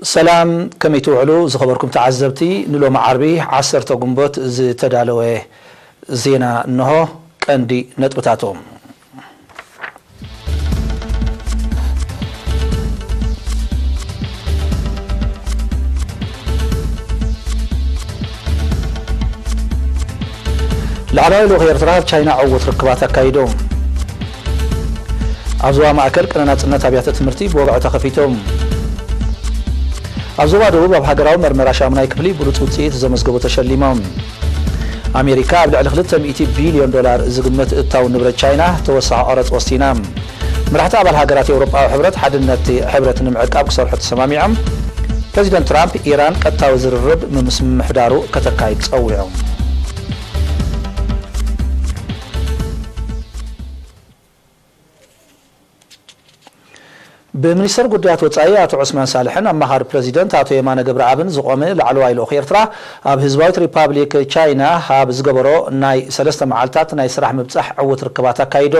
ሰላም ከመይ ትውዕሉ ዝኸበርኩም ተዓዘብቲ ንሎሚ ዓርቢ ዓሰርተ ግንቦት ዝተዳለወ ዜና እነሆ ቀንዲ ነጥብታቱ። ላዕለዋይ ልኡኽ ኤርትራ ኣብ ቻይና ዕዉት ርክባት ኣካይዱ። ኣብ ዞባ ማእከል ቅነ ናጽነት ኣብያተ ትምህርቲ ብወግዒ ተኸፊቱ። ኣብ ዞባ ደቡብ ኣብ ሃገራዊ መርመራ ሻሙናይ ክፍሊ ብሉጽ ውጽኢት ዘመዝገቡ ተሸሊሞም። ኣሜሪካ ኣብ ልዕሊ ክልተ ሚእቲ ቢልዮን ዶላር ዝግመት እታው ንብረት ቻይና ተወሳኺ ቀረጽ ወሲና። መራሕቲ ኣባል ሃገራት ኤውሮጳዊ ሕብረት ሓድነት'ቲ ሕብረት ንምዕቃብ ክሰርሑ ተሰማሚዖም፣ ፕረዚደንት ትራምፕ ኢራን ቀጥታዊ ዝርርብ ምምስ ምምሕዳሩ ከተካይድ ጸዊዑ። ብሚኒስተር ጉዳያት ወጻኢ ኣቶ ዑስማን ሳልሕን ኣማኻሪ ፕረዚደንት ኣቶ የማነ ገብረኣብን ዝቖመ ላዕለዋይ ልኡኽ ኤርትራ፣ ኣብ ህዝባዊት ሪፓብሊክ ቻይና ኣብ ዝገበሮ ናይ ሰለስተ መዓልታት ናይ ስራሕ ምብጻሕ ዕዉት ርክባት ኣካይዱ።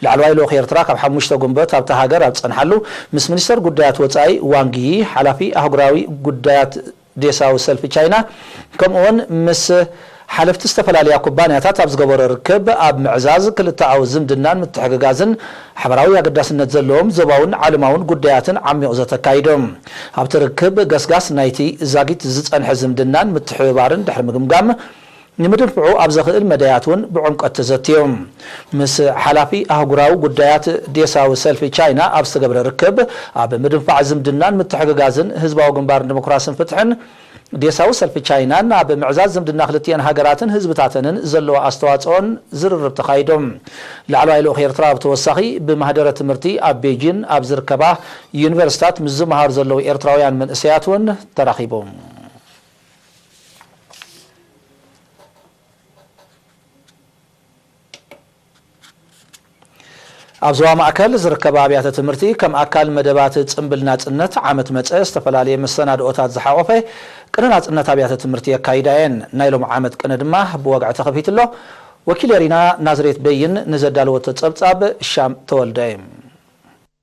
ላዕለዋይ ልኡኽ ኤርትራ ካብ ሓሙሽተ ጉንበት ኣብታ ሃገር ኣብ ዝጸንሓሉ፣ ምስ ሚኒስተር ጉዳያት ወጻኢ ዋንግ ዪ፣ ሓላፊ ኣህጉራዊ ጉዳያት ዴሳዊ ሰልፊ ቻይና ከምኡ'ውን ምስ ሓለፍቲ ዝተፈላለያ ኩባንያታት ኣብ ዝገበሮ ርክብ፣ ኣብ ምዕዛዝ ክልተኣዊ ዝምድናን ምትሕግጋዝን ሓበራዊ ኣገዳስነት ዘለዎም ዞባውን ዓለማውን ጉዳያትን ዓሚቝ ዘተ ኣካይዱ። ኣብቲ ርክብ ገስጋስ ናይቲ ዛጊት ዝጸንሐ ዝምድናን ምትሕብባርን ድሕሪ ምግምጋም፣ ንምድንፍዑ ኣብ ዘኽእል መዳያት እውን ብዕምቈት ተዘትዩ። ምስ ሓላፊ ኣህጉራዊ ጉዳያት ዴሳዊ ሰልፊ ቻይና ኣብ ዝተገብረ ርክብ፣ ኣብ ምድንፋዕ ዝምድናን ምትሕግጋዝን ህዝባዊ ግንባር ንደሞክራስን ፍትሕን፣ ዴሳዊ ሰልፊ ቻይናን ኣብ ምዕዛዝ ዝምድና ክልቲኤን ሃገራትን ህዝብታተንን ዘለዎ ኣስተዋፅኦን ዝርርብ ተኻይዶም። ላዕለዋይ ልኡኽ ኤርትራ ብተወሳኺ ብማህደረ ትምህርቲ ኣብ ቤጂን ኣብ ዝርከባ ዩኒቨርሲታት ምስ ዝመሃሩ ዘለዉ ኤርትራውያን መንእሰያት እውን ተራኺቦም። ኣብ ዞባ ማእከል ዝርከባ ኣብያተ ትምህርቲ ከም ኣካል መደባት ጽምብል ናጽነት ዓመት መጸ ዝተፈላለየ መሰናድኦታት ዝሓቖፈ ቅነ ናጽነት ኣብያተ ትምህርቲ የካይዳ እየን። ናይ ሎሚ ዓመት ቅነ ድማ ብወግዒ ተኸፊቱ ኣሎ። ወኪል ኤሪና ናዝሬት በይን ንዘዳለወቶ ጸብጻብ ሻም ተወልደ።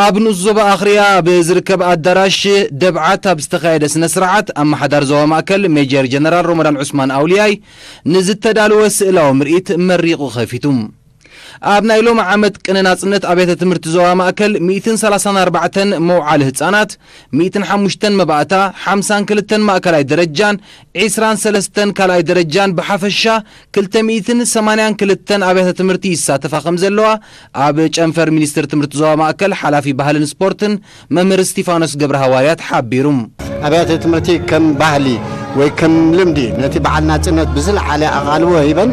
ኣብ ንኡስ ዞባ ኣኽርያ ኣብ ዝርከብ ኣዳራሽ ደብዓት ኣብ ዝተኻየደ ስነ ስርዓት፣ ኣመሓዳሪ ዞባ ማእከል ሜጀር ጀነራል ሮሞዳን ዑስማን ኣውልያይ ንዝተዳለወ ስእላዊ ምርኢት መሪቑ ከፊቱ። ኣብ ናይ ሎሚ ዓመት ቅነ ናጽነት ኣብያተ ትምህርቲ ዞባ ማእከል ሚእትን ሰላሳን ኣርባዕተን መውዓሊ ህጻናት፣ ሚእትን ሓሙሽተን መባእታ፣ ሓምሳን ክልተን ማእከላይ ደረጃን ዒስራን ሰለስተን ካልኣይ ደረጃን ብሓፈሻ ክልተ ሚእትን ሰማንያን ክልተን ኣብያተ ትምህርቲ ይሳተፋ ከምዘለዋ ኣብ ጨንፈር ሚኒስቴር ትምህርቲ ዞባ ማእከል ሓላፊ ባህልን ስፖርትን መምህር እስቲፋኖስ ገብረሃዋርያት ሓቢሩ። ኣብያተ ትምህርቲ ከም ባህሊ ወይ ከም ልምዲ ነቲ በዓል ናጽነት ብዝለዓለ ኣቓልቦ ሂበን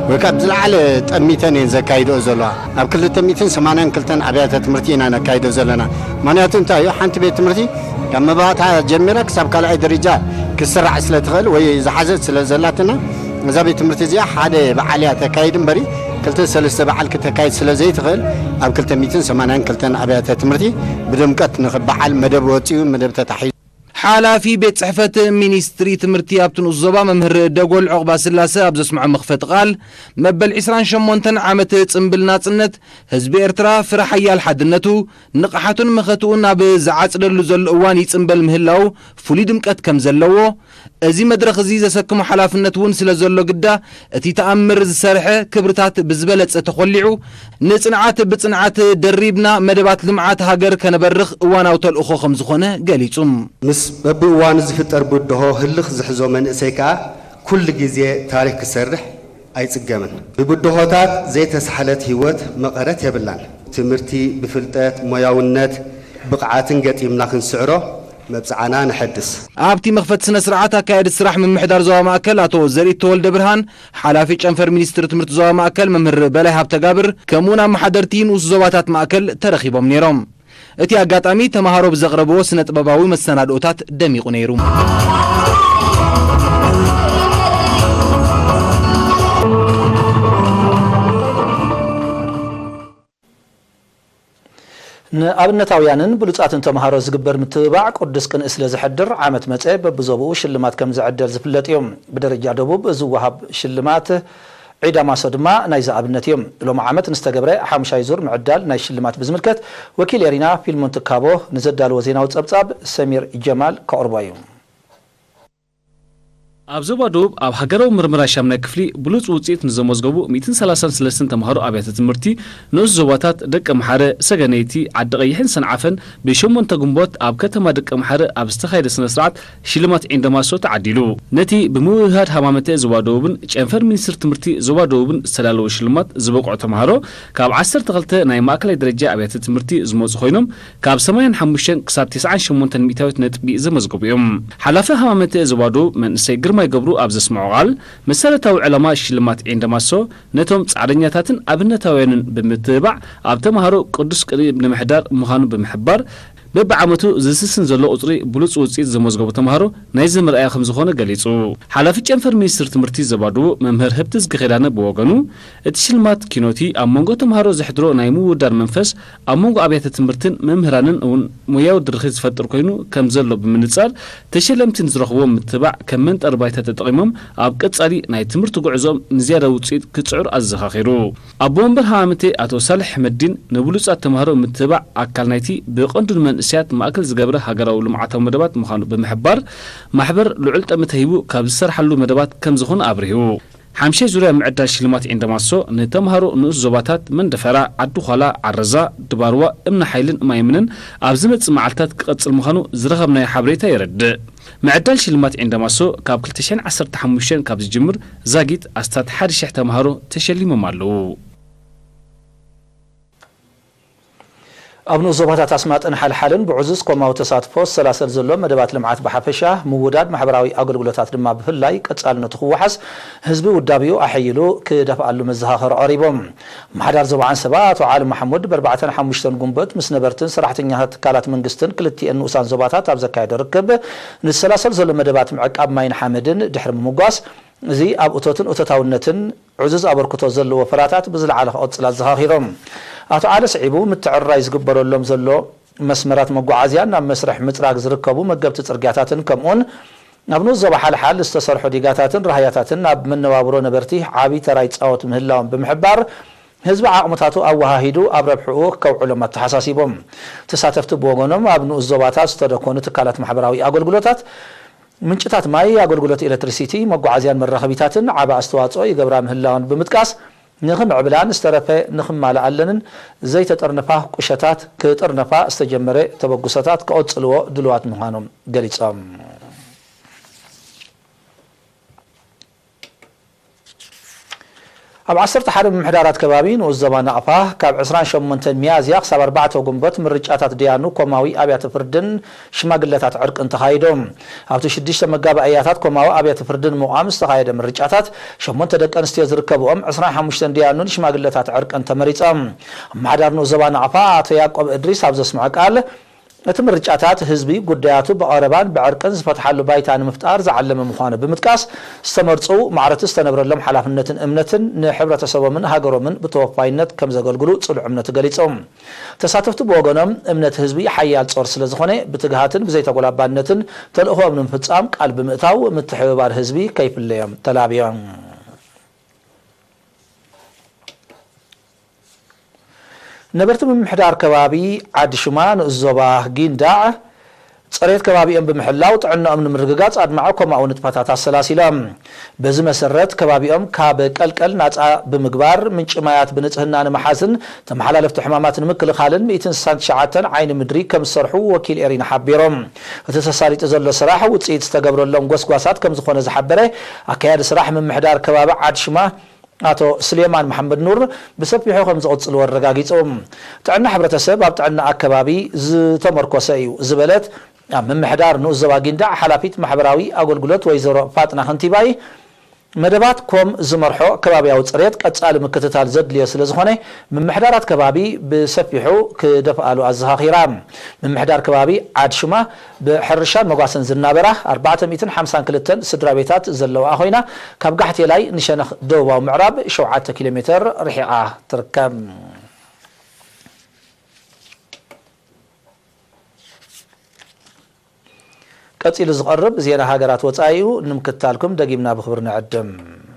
ወይ ከኣ ብዝለዓለ ጠሚተን እየን ዘካይድኦ ዘለዋ። ኣብ ክልተ ሚእትን ሰማንያን ክልተን ኣብያተ ትምህርቲ ኢና ነካይዶ ዘለና። ምኽንያቱ እንታይ እዩ፣ ሓንቲ ቤት ትምህርቲ ካብ መባእታ ጀሚራ ክሳብ ካልኣይ ደረጃ ክትስራዕ ስለ ትኽእል ወይ ዝሓዘት ስለ ዘላትና፣ እዛ ቤት ትምህርቲ እዚኣ ሓደ በዓል እያ ተካይድ እምበሪ ክልተ ሰለስተ በዓል ክተካይድ ስለ ዘይትኽእል ኣብ ክልተ ሚእትን ሰማንያን ክልተን ኣብያተ ትምህርቲ ብድምቀት ንኽበዓል መደብ ወጺኡ መደብ ተታሒዙ ሓላፊ ቤት ፅሕፈት ሚኒስትሪ ትምህርቲ ኣብቲ ንኡስ ዞባ መምህር ደጎል ዑቕባስላሰ ኣብ ዘስምዖ መኽፈቲ ቃል፣ መበል ዕስራን ሸሞንተን ዓመት ፅምብል ናፅነት፣ ህዝቢ ኤርትራ ፍረ ሓያል ሓድነቱ፣ ንቕሓቱን መኸትኡን ኣብ ዝዓፅደሉ ዘሎ እዋን ይፅምበል ምህላዉ ፍሉይ ድምቀት ከምዘለዎ፣ እዚ መድረኽ እዚ ዘሰክሞ ሓላፍነት እውን ስለዘሎ ግዳ እቲ ተኣምር ዝሰርሐ ክብርታት ብዝበለፀ ተኾሊዑ ንፅንዓት ብፅንዓት ደሪብና መደባት ልምዓት ሃገር ከነበርኽ እዋናዊ ተልእኾ ከምዝኾነ ገሊፁ። ምስ በብእዋኑ ዝፍጠር ብድሆ ህልኽ ዝሕዞ መንእሰይ ከኣ ኩሉ ግዜ ታሪኽ ክሰርሕ ኣይፅገምን። ብብድሆታት ዘይተሳሕለት ህይወት መቐረት የብላን። ትምህርቲ ብፍልጠት፣ ሞያውነት፣ ብቕዓትን ገጢምና ክንስዕሮ መብጽዓና ነሐድስ። ኣብቲ መኽፈቲ ስነ ስርዓት ኣካያዲ ስራሕ ምምሕዳር ዞባ ማእከል ኣቶ ዘርኢት ተወልደብርሃን፣ ሓላፊ ጨንፈር ሚኒስትሪ ትምህርቲ ዞባ ማእከል መምህር በላይ ሃብተጋብር ከምኡ'ውን ኣመሓደርቲ ንኡስ ዞባታት ማእከል ተረኺቦም ነይሮም። እቲ ኣጋጣሚ ተመሃሮ ብዘቕረብዎ ስነ ጥበባዊ መሰናድኦታት ደሚቑ ነይሩ። ንኣብነታውያንን ብሉጻትን ተመሃሮ ዝግበር ምትብባዕ ቅዱስ ቅንኢ ስለ ዘሕድር፣ ዓመት መጸ በብዞባኡ ሽልማት ከም ዝዕደል ዝፍለጥ እዩ። ብደረጃ ደቡብ ዝወሃብ ሽልማት ዒዳ ማሶ ድማ ናይዚ ኣብነት እዩ። ሎሚ ዓመት ንዝተገብረ ሓሙሻይ ዙር ምዕዳል ናይ ሽልማት ብዝምልከት፣ ወኪል ኤሪና ፊልሞን ትካቦ ንዘዳለዎ ዜናዊ ጸብጻብ ሰሚር ጀማል ከቕርቦ እዩ። ኣብ ዞባ ደቡብ ኣብ ሃገራዊ ምርምራ ሻምናይ ክፍሊ ብሉጽ ውጽኢት ንዘመዝገቡ ሚእትን ሰላሳን ስለስትን ተማሃሮ ኣብያተ ትምህርቲ ንኡስ ዞባታት ደቀምሓረ፣ ሰገነይቲ፣ ዓዲቐይሕን ሰንዓፈን ብ ሸሞንተ ግንቦት ኣብ ከተማ ደቀምሓረ ኣብ ዝተኻየደ ስነስርዓት ሽልማት ዒንደማሶ ተዓዲሉ። ነቲ ብምውህሃድ ሃማመተ ዞባ ደቡብን ጨንፈር ሚኒስትሪ ትምህርቲ ዞባ ደቡብን ዝተዳለወ ሽልማት ዝበቅዑ ተማሃሮ ካብ ዓሰርተ ክልተ ናይ ማእከላይ ደረጃ ኣብያተ ትምህርቲ ዝመጹ ኮይኖም ካብ ሰማንያን ሓሙሽተን ክሳብ ተስዓን ሸሞንተን ሚእታዊት ነጥቢ ዘመዝገቡ እዮም። ሓላፊ ሃማመተ ዝባዶ መንእሰይ ግርማይ ገብሩ ኣብ ዘስመዖ ቃል፣ መሰረታዊ ዕላማ ሽልማት ዒንደ ማሶ ነቶም ጻዕረኛታትን ኣብነታውያንን ብምትብባዕ ኣብ ተመሃሮ ቅዱስ ቅንኢ ንምሕዳር ምዃኑ ብምሕባር፣ በብዓመቱ ዝስስን ዘሎ ቁጽሪ ብሉጽ ውጽኢት ዘመዝገቡ ተመሃሮ ናይዚ መርኣያ ከምዝኾነ ገሊጹ። ሓላፊ ጨንፈር ሚኒስትሪ ትምህርቲ ዘባዶ መምህር ህብትዝጊ ኪዳነ ብወገኑ፣ እቲ ሽልማት ኪኖቲ ኣብ መንጎ ተመሃሮ ዘሕድሮ ናይ ምውድዳር መንፈስ ኣብ መንጎ ኣብያተ ትምህርትን መምህራንን እውን ሞያዊ ድርኺት ዝፈጥር ኮይኑ ከም ዘሎ ብምንጻር፣ ተሸለምቲ ንዝረኽብዎ ምትብባዕ ከም መንጠሪ ባይታ ተጠቒሞም ኣብ ቀጻሊ ናይ ትምህርቲ ጉዕዞኦም ንዝያዳ ውጽኢት ክጽዕሩ ኣዘኻኺሩ። ኣቦ መንበር ሃማመተኤ ኣቶ ሳልሕ ሕመዲን፣ ንብሉጻት ተማሃሮ ምትብባዕ ኣካል ናይቲ ብቐንዱ ንመንእሰያት ማእከል ዝገብረ ሃገራዊ ልምዓታዊ መደባት ምዃኑ ብምሕባር፣ ማሕበር ልዑል ጠመተ ሂቡ ካብ ዝሰርሓሉ መደባት ከም ዝኾነ ኣብሪሁ። ሓምሻይ ዙርያ ምዕዳል ሽልማት ኤንደማሶ ንተምሃሮ ንኡስ ዞባታት መንደፈራ፣ ዓዲ-ዃላ፣ ዓረዛ፣ ድባርዋ፣ እምኒ-ሓይልን ማይምንን ኣብ ዝመጽእ መዓልታት ክቐጽል ምዃኑ ዝረኸብናዮ ሓበሬታ የረድእ። ምዕዳል ሽልማት ኤንደማሶ ካብ ክልተ ሽሕን ዓሰርተ ሓሙሽተን ካብ ዝጅምር ዛጊት ኣስታት ሓደ ሽሕ ተምሃሮ ተሸሊሞም ኣለዉ። ኣብ ንኡስ ዞባታት ኣስማጥን ሓልሓልን ብዕዙዝ ኮማዊ ተሳትፎ ዝሰላሰል ዘሎ መደባት ልምዓት ብሓፈሻ፣ ምውዳድ ማሕበራዊ ኣገልግሎታት ድማ ብፍላይ ቀፃልነቱ ክወሓስ ህዝቢ ውዳቤኡ ኣሐይሉ ክደፍኣሉ መዘኻኸሪ ቐሪቡ። ኣመሓዳሪ ዞባ ዓንሰባ ኣቶ ዓሊ ማሕሙድ በርባዕተን ሓሙሽተን ጉንበት ምስ ነበርትን ሰራሕተኛታት ትካላት መንግስትን ክልቲኤን ንኡሳን ዞባታት ኣብ ዘካየዶ ርክብ ንዝሰላሰል ዘሎ መደባት ምዕቃብ ማይን ሓመድን ድሕሪ ምምጓስ እዚ ኣብ እቶትን እቶታውነትን ዕዙዝ ኣበርክቶ ዘለዎ ፍራታት ብዝለዓለ ክቕፅል ኣዘኻኺሮም። ኣቶ ዓሊ ስዒቡ፣ ምትዕርራይ ዝግበረሎም ዘሎ መስመራት መጓዓዝያን ናብ መስርሕ ምፅራግ ዝርከቡ መገብቲ ፅርግያታትን ከምኡውን ኣብ ንኡስ ዞባ ሓልሓል ዝተሰርሑ ዲጋታትን ራህያታትን ኣብ መነባብሮ ነበርቲ ዓብዪ ተራ ይፃወቱ ምህላዎም ብምሕባር ህዝቢ ዓቕምታቱ ኣወሃሂዱ ኣብ ረብሕኡ ከውዕሎም ኣተሓሳሲቦም። ተሳተፍቲ ብወገኖም ኣብ ንኡስ ዞባታት ዝተደኮኑ ትካላት ማሕበራዊ ኣገልግሎታት ምንጭታት ማይ፣ ኣገልግሎት ኤለትሪሲቲ፣ መጓዓዝያን መራኸቢታትን ዓቢ ኣስተዋጽኦ ይገብራ ምህላወን ብምጥቃስ፣ ንኽምዕብላን ዝተረፈ ንኽማልኣለንን ዘይተጠርነፋ ቁሸታት ክጥርነፋ ዝተጀመረ ተበግሶታት ክቕጽልዎ ድሉዋት ምዃኖም ገሊጾም። ኣብ ዓሰርተ ሓደ ምምሕዳራት ከባቢ ንኡስ ዞባ ናቕፋ ካብ ዕስራን ሸሞንተን ሚያዝያ ክሳብ ኣርባዕተ ጉንቦት ምርጫታት ደያኑ ኮማዊ ኣብያተ ፍርድን ሽማግለታት ዕርቅን ተኻይዶም። ኣብቲ ሽዱሽተ መጋባእያታት ኮማዊ ኣብያተ ፍርዲ ንምቛም ዝተኻየደ ምርጫታት ሸሞንተ ደቂ ኣንስትዮ ዝርከብኦም ዕስራን ሓሙሽተን ደያኑን ሽማግለታት ዕርቅን ተመሪጾም። ኣመሓዳሪ ንኡስ ዞባ ናቕፋ ኣቶ ያቆብ እድሪስ ኣብ ዘስምዖ ቃል፣ እቲ ምርጫታት ህዝቢ ጉዳያቱ ብቐረባን ብዕርቅን ዝፈትሓሉ ባይታ ንምፍጣር ዝዓለመ ምዃኑ ብምጥቃስ፣ ዝተመርጹ ማዕረቲ ዝተነብረሎም ሓላፍነትን እምነትን ንሕብረተሰቦምን ሃገሮምን ብተወፋይነት ከምዘገልግሉ ጽኑዕ እምነቱ ገሊጹ። ተሳተፍቲ ብወገኖም፣ እምነት ህዝቢ ሓያል ጾር ስለዝኾነ ብትግሃትን ብዘይተጎላባነትን ተልእኾኦም ንምፍጻም ቃል ብምእታው ምትሕብባር ህዝቢ ከይፍለዮም ተላብዮም። ነበርቲ ምምሕዳር ከባቢ ዓዲ ሽማ ንኡስ ዞባ ጊንዳዕ ፅሬት ከባቢኦም ብምሕላው ጥዕነኦም ንምርግጋፅ ኣድማዒ ኮማዊ ንጥፈታት ኣሰላሲሎም። በዚ መሰረት ከባቢኦም ካብ ቀልቀል ናፃ ብምግባር፣ ምንጪ ማያት ብንፅህና ንምሓዝን ተመሓላለፍቲ ሕማማት ንምክልኻልን ሚእትን ስሳን ትሽዓተን ዓይኒ ምድሪ ከምዝሰርሑ ወኪል ኤሪና ሓቢሩ። እቲ ተሳሊጡ ዘሎ ስራሕ ውፅኢት ዝተገብረሎም ጎስጓሳት ከምዝኾነ ዝሓበረ ኣካያዲ ስራሕ ምምሕዳር ከባቢ ዓድ ሽማ ኣቶ ስሌማን መሓመድኑር ብሰፊሑ ከምዝቕፅልዎ ኣረጋጊፁ። ጥዕና ሕብረተሰብ ኣብ ጥዕና ኣከባቢ ዝተመርኮሰ እዩ ዝበለት ኣብ ምምሕዳር ንኡስ ዞባ ጊንዳዕ ሓላፊት ማሕበራዊ ኣገልግሎት ወይዘሮ ፋጥና ክንቲባይ፣ መደባት ኮም ዝመርሖ ከባቢያዊ ፅሬት ቀፃሊ ምክትታል ዘድልዮ ስለዝኾነ ምምሕዳራት ከባቢ ብሰፊሑ ክደፍኣሉ ኣዘኻኺራ። ምምሕዳር ከባቢ ዓድ-ሹማ፣ ብሕርሻን መጓሰን ዝናበራ ኣርባዕተ ሚእትን ሓምሳን ክልተን ስድራቤታት ዘለውኣ ኮይና፣ ካብ ጋሕቴላይ ንሸነኽ ደቡባዊ ምዕራብ ሸውዓተ ኪሎ ሜተር ርሒቓ ትርከብ። ቀጺሉ ዝቐርብ ዜና ሃገራት ወጻኢ'ዩ። ንምክትታልኩም ደጊምና ብኽብሪ ንዕድም።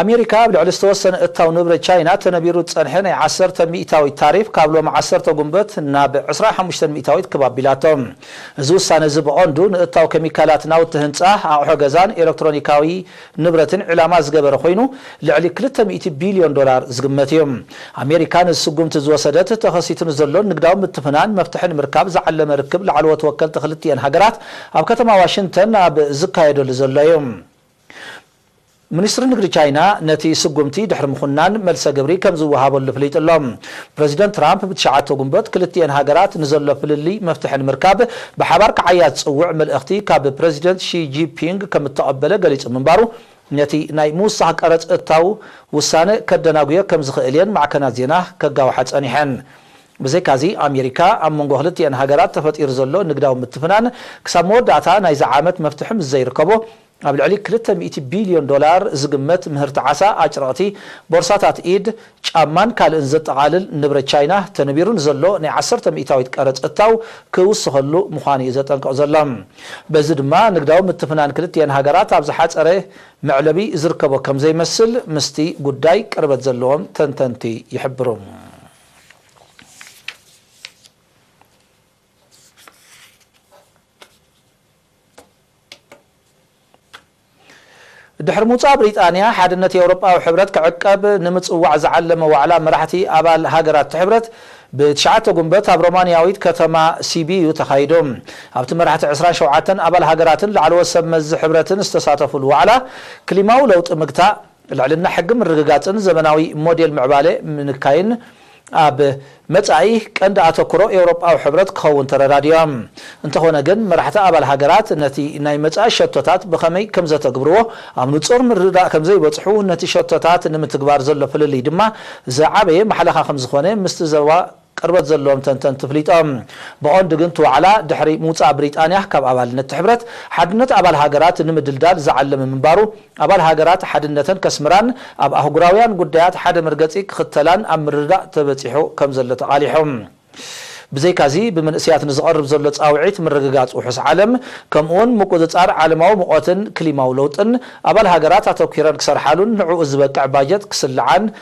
ኣሜሪካ ኣብ ልዕሊ ዝተወሰነ እታው ንብረት ቻይና ተነቢሩ ዝጸንሐ ናይ ዓሰርተ ሚእታዊት ታሪፍ ካብ ሎሚ ዓሰርተ ጉንበት ናብ ዕስራን ሓሙሽተን ሚእታዊት ክብ ኣቢላቶ። እዚ ውሳነ እዚ ብቐንዱ ንእታው ኬሚካላት፣ ናውቲ ህንጻ፣ ኣቕሑ ገዛን ኤለክትሮኒካዊ ንብረትን ዒላማ ዝገበረ ኮይኑ ልዕሊ ክልተ ሚእቲ ቢልዮን ዶላር ዝግመት እዩ። ኣሜሪካ ነዚ ስጉምቲ ዝወሰደት ተኸሲቱ ንዘሎ ንግዳዊ ምትፍናን መፍትሒ ንምርካብ ዝዓለመ ርክብ ላዕለዎት ወከልቲ ክልቲኤን ሃገራት ኣብ ከተማ ዋሽንግተን ኣብ ዝካየደሉ ዘሎ እዩ። ሚኒስትሪ ንግዲ ቻይና ነቲ ስጉምቲ ድሕሪ ምኹናን መልሰ ግብሪ ከም ዝወሃበሉ ኣፍሊጡ ኣሎ። ፕረዚደንት ትራምፕ ብትሽዓተ ጉንቦት ክልቲኤን ሃገራት ንዘሎ ፍልልይ መፍትሒ ንምርካብ ብሓባር ክዓያ ዝጽውዕ መልእኽቲ ካብ ፕረዚደንት ሺ ጂፒንግ ከም እተቐበለ ገሊጹ ምንባሩ ነቲ ናይ ምውሳኽ ቀረጽ እታው ውሳነ ከደናጉዮ ከም ዝኽእል እየን ማዕከናት ዜና ከጋውሓ ጸኒሐን። ብዘይካ'ዚ ኣሜሪካ ኣብ መንጎ ክልቲኤን ሃገራት ተፈጢሩ ዘሎ ንግዳዊ ምትፍናን ክሳብ መወዳእታ ናይዚ ዓመት መፍትሒ ምስ ዘይርከቦ ኣብ ልዕሊ ክልተ ሚእቲ ቢልዮን ዶላር ዝግመት ምህርቲ ዓሳ፣ ኣጭርቕቲ፣ ቦርሳታት ኢድ፣ ጫማን ካልእን ዘጠቓልል ንብረት ቻይና ተነቢሩ ንዘሎ ናይ ዓሰርተ ሚእታዊት ቀረጽ እታው ክውስኸሉ ምዃኑ'ዩ ዘጠንቅቕ ዘሎ። በዚ ድማ ንግዳዊ ምትፍናን ክልቲኤን ሃገራት ኣብ ዝሓጸረ መዕለቢ ዝርከቦ ከምዘይመስል ምስቲ ጉዳይ ቅርበት ዘለዎም ተንተንቲ ይሕብሩ። ድሕሪ ምውጻእ ብሪጣንያ ሓድነት ኤውሮጳዊ ሕብረት ክዕቀብ ንምጽዋዕ ዝዓለመ ዋዕላ መራሕቲ ኣባል ሃገራት'ቲ ሕብረት ብትሽዓተ ጉንበት ኣብ ሮማንያዊት ከተማ ሲቢዩ ተኻይዶ። ኣብቲ መራሕቲ ዕስራን ሸውዓተን ኣባል ሃገራትን ላዕለዎት ሰብ መዚ ሕብረትን ዝተሳተፉሉ ዋዕላ፣ ክሊማዊ ለውጢ ምግታእ፣ ልዕልና ሕጊ ምርግጋፅን ዘመናዊ ሞዴል ምዕባለ ምንካይን ኣብ መፃኢ ቀንዲ ኣተኩሮ ኤውሮጳዊ ሕብረት ክኸውን ተረዳዲኦም። እንተኾነ ግን መራሕቲ ኣባል ሃገራት ነቲ ናይ መፃኢ ሸቶታት ብኸመይ ከምዘተግብርዎ ኣብ ንፁር ምርድዳእ ከምዘይበፅሑ ነቲ ሸቶታት ንምትግባር ዘሎ ፍልልይ ድማ ዝዓበየ ማሕለኻ ከምዝኾነ ምስቲ ዘባ ቅርበት ዘለዎም ተንተንቲ ፍሊጦም። ብቐንዱ ግን እቲ ዋዕላ ድሕሪ ምውጻእ ብሪጣንያ ካብ ኣባልነት እቲ ሕብረት፣ ሓድነት ኣባል ሃገራት ንምድልዳል ዝዓለመ ምንባሩ፣ ኣባል ሃገራት ሓድነተን ከስምራን ኣብ ኣህጉራውያን ጉዳያት ሓደ መርገጺ ክኽተላን ኣብ ምርድዳእ ተበጺሑ ከም ዘሎ ተቓሊሑ። ብዘይካዚ ብምንእሰያት ንዝቐርብ ዘሎ ጻውዒት ምርግጋጽ ውሑስ ዓለም ከምኡ'ውን ምቁጽጻር ዓለማዊ ሙቐትን ክሊማዊ ለውጥን ኣባል ሃገራት ኣተኲረን ክሰርሓሉን ንዕኡ ዝበቅዕ ባጀት ክስልዓን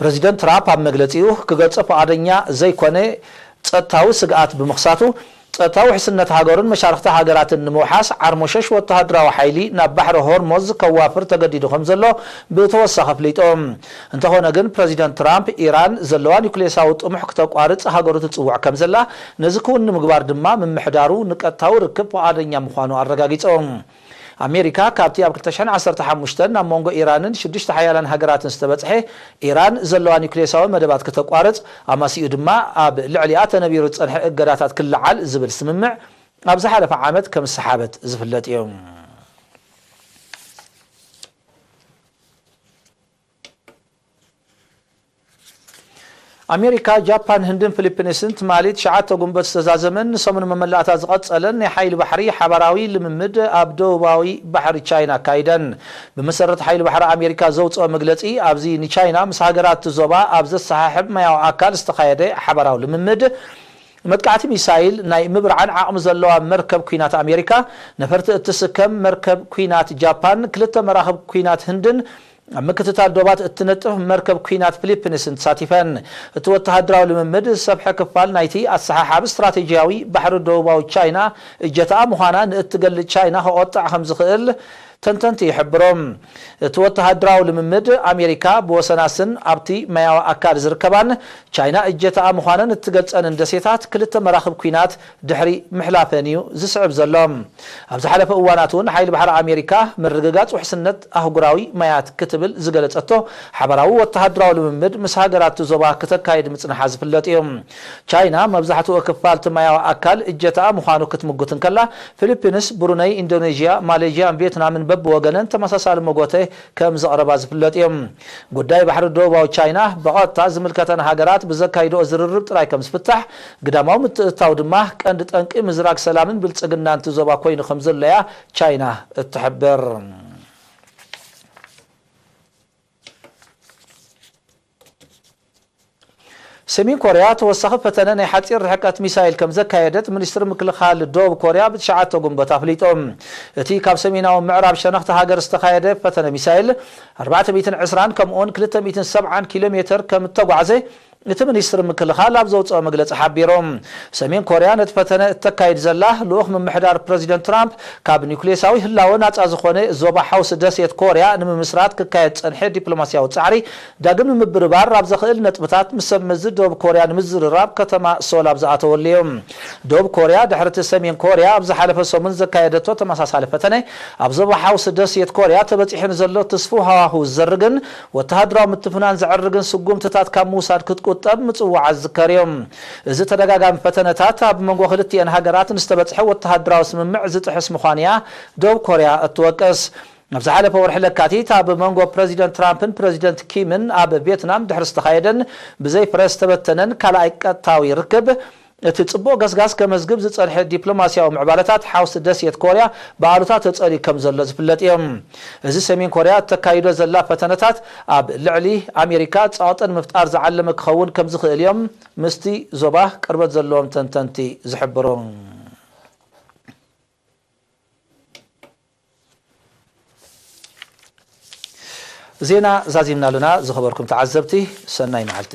ፕረዚደንት ትራፕ ኣብ መግለጺኡ፣ ክገልጾ ፍቓደኛ ዘይኰነ ጸጥታዊ ስግኣት ብምኽሳቱ፣ ጸጥታዊ ውሕስነት ሃገሩን መሻርኽቲ ሃገራትን ንምውሓስ ዓርሞሸሽ ወተሃደራዊ ሓይሊ ናብ ባሕሪ ሆርሞዝ ከዋፍር ተገዲዱ ከምዘሎ ብተወሳኺ ኣፍሊጡ። እንተዀነ ግን ፕረዚደንት ትራምፕ፣ ኢራን ዘለዋ ኒዩክሌሳዊ ጥሙሕ ክተቋርጽ ሃገሩ ትጽውዕ ከምዘላ፣ ነዚ ክዉን ንምግባር ድማ ምምሕዳሩ ንቀጥታዊ ርክብ ፍቓደኛ ምዃኑ ኣረጋጊጹ። ኣሜሪካ ካብቲ ኣብ ክልተ ሽሕን ዓሰርተ ሓሙሽተን ናብ መንጎ ኢራንን ሽዱሽተ ሓያላን ሃገራትን ዝተበጽሐ ኢራን ዘለዋ ኒዩክሌሳዊ መደባት ክተቋርጽ ኣማሲኡ ድማ ኣብ ልዕሊኣ ተነቢሩ ዝጸንሐ እገዳታት ክለዓል ዝብል ስምምዕ ኣብ ዝሓለፈ ዓመት ከም ዝሰሓበት ዝፍለጥ እዩ። ኣሜሪካ፣ ጃፓን፣ ህንድን ፊሊፕንስን ትማሊ ትሽዓተ ጉንበት ዝተዛዘመን ንሰሙን መመላእታ ዝቐጸለን ናይ ሓይሊ ባሕሪ ሓባራዊ ልምምድ ኣብ ደቡባዊ ባሕሪ ቻይና ኣካይደን። ብመሰረት ሓይሊ ባሕሪ ኣሜሪካ ዘውጽኦ መግለጺ፣ ኣብዚ ንቻይና ምስ ሃገራት እቲ ዞባ ኣብ ዘሰሓሕብ ማያዊ ኣካል ዝተኻየደ ሓባራዊ ልምምድ፣ መጥቃዕቲ ሚሳይል ናይ ምብርዓን ዓቕሚ ዘለዋ መርከብ ኲናት ኣሜሪካ፣ ነፈርቲ እትስከም መርከብ ኲናት ጃፓን፣ ክልተ መራኽብ ኲናት ህንድን ኣብ ምክትታል ዶባት እትነጥፍ መርከብ ኲናት ፊሊፕንስን ተሳቲፈን። እቲ ወተሃደራዊ ልምምድ ዝሰፍሐ ክፋል ናይቲ ኣሰሓሓቢ ስትራቴጂያዊ ባሕሪ ደቡባዊ ቻይና እጀታኣ ምዃና ንእትገልጽ ቻይና ከቖጥዕ ከም ዝኽእል ተንተንቲ ይሕብሩ። እቲ ወተሃደራዊ ልምምድ፣ ኣሜሪካ ብወሰናስን ኣብቲ ማያዊ ኣካል ዝርከባን ቻይና እጀታኣ ምዃነን እትገልጸንን ደሴታት ክልተ መራኽብ ኲናት ድሕሪ ምሕላፈን እዩ ዝስዕብ ዘሎ። ኣብ ዝሓለፈ እዋናት እውን ሓይሊ ባሕሪ ኣሜሪካ ምርግጋፅ ውሕስነት ኣህጉራዊ ማያት ክትብል ዝገለፀቶ ሓባራዊ ወተሃደራዊ ልምምድ ምስ ሃገራት እቲ ዞባ ክተካይድ ምፅንሓ ዝፍለጥ እዩ። ቻይና መብዛሕትኡ ክፋል እቲ ማያዊ ኣካል እጀታኣ ምዃኑ ክትምጉት እንከላ፣ ፊሊፒንስ፣ ብሩነይ፣ ኢንዶኔዥያ፣ ማሌዥያን ቪየትናምን በብወገነን ተመሳሳሊ መጎተ ከም ዘቕረባ ዝፍለጥ እዩ። ጉዳይ ባሕሪ ደቡባዊ ቻይና ብቐጥታ ዝምልከተን ሃገራት ብዘካይድኦ ዝርርብ ጥራይ ከም ዝፍታሕ ግዳማዊ ምትእትታው ድማ ቀንዲ ጠንቂ ምዝራግ ሰላምን ብልጽግናን'ቲ ዞባ ኮይኑ ከምዘሎ'ያ ቻይና እትሕብር። ሰሜን ኮርያ ተወሳኺ ፈተነ ናይ ሓጺር ርሕቀት ሚሳይል ከምዘካየደት ሚኒስትሪ ምክልኻል ደቡብ ኮርያ ብትሽዓተ ጉንበት ኣፍሊጡ። እቲ ካብ ሰሜናዊ ምዕራብ ሸነኽ'ታ ሃገር ዝተኻየደ ፈተነ ሚሳይል ኣርባዕተ ሚእትን ዕስራን ከምኡ'ውን ክልተ ሚእትን ሰብዓን ኪሎ ሜተር ከምእተጓዕዘ እቲ ሚኒስትሪ ምክልኻል ኣብ ዘውጽኦ መግለጺ ሓቢሩ። ሰሜን ኮርያ ነቲ ፈተነ እተካይድ ዘላ፣ ልኡኽ ምምሕዳር ፕረዚደንት ትራምፕ ካብ ኒዩክሌሳዊ ህላወ ናጻ ዝዀነ ዞባ ሓውሲ ደሴት ኮርያ ንምምስራት ክካየድ ዝጸንሐ ዲፕሎማስያዊ ጻዕሪ ዳግም ንምብርባር ኣብ ዘኽእል ነጥብታት ምስ ሰብመዚ ደቡብ ኮርያ ንምዝርራብ ከተማ ሶል ኣብ ዝኣተወሉ እዩ። ደቡብ ኮርያ ድሕሪ'ቲ ሰሜን ኮርያ ኣብ ዝሓለፈ ሰሙን ዘካየደቶ ተመሳሳሊ ፈተነ፣ ኣብ ዞባ ሓውሲ ደሴት ኮርያ ተበጺሑ ንዘሎ ትስፉው ሃዋህው ዝዘርግን ወተሃደራዊ ምትፍናን ዘዕርግን ስጉምትታት ካብ ምውሳድ ክትቁጠብ ምጽዋዓ ዝዝከርዮ። እዚ ተደጋጋሚ ፈተነታት ኣብ መንጎ ክልቲኤን ሃገራት ንዝተበጽሐ ወተሃደራዊ ስምምዕ ዝጥሕስ ምዃኑ'ያ ደቡብ ኮርያ እትወቅስ። ኣብ ዝሓለፈ ወርሒ ለካቲት ኣብ መንጎ ፕረዚደንት ትራምፕን ፕረዚደንት ኪምን ኣብ ቬትናም ድሕሪ ዝተኻየደን ብዘይ ፍረ ዝተበተነን ካልኣይ ቀጥታዊ ርክብ፣ እቲ ጽቡቕ ገስጋስ ከመዝግብ ዝጸንሐ ዲፕሎማስያዊ ምዕባለታት ሓውሲ ደሴት ኮርያ ብኣሉታ ተጸልዩ ከም ዘሎ ዝፍለጥ እዮ። እዚ ሰሜን ኮርያ እተካይዶ ዘላ ፈተነታት ኣብ ልዕሊ ኣሜሪካ ጸቕጢ ንምፍጣር ዝዓለመ ክኸውን ከም ዝኽእል እዮም ምስቲ ዞባ ቅርበት ዘለዎም ተንተንቲ ዝሕብሩ። ዜና ዛዚምና ኣለና ዝኸበርኩም ተዓዘብቲ ሰናይ መዓልቲ።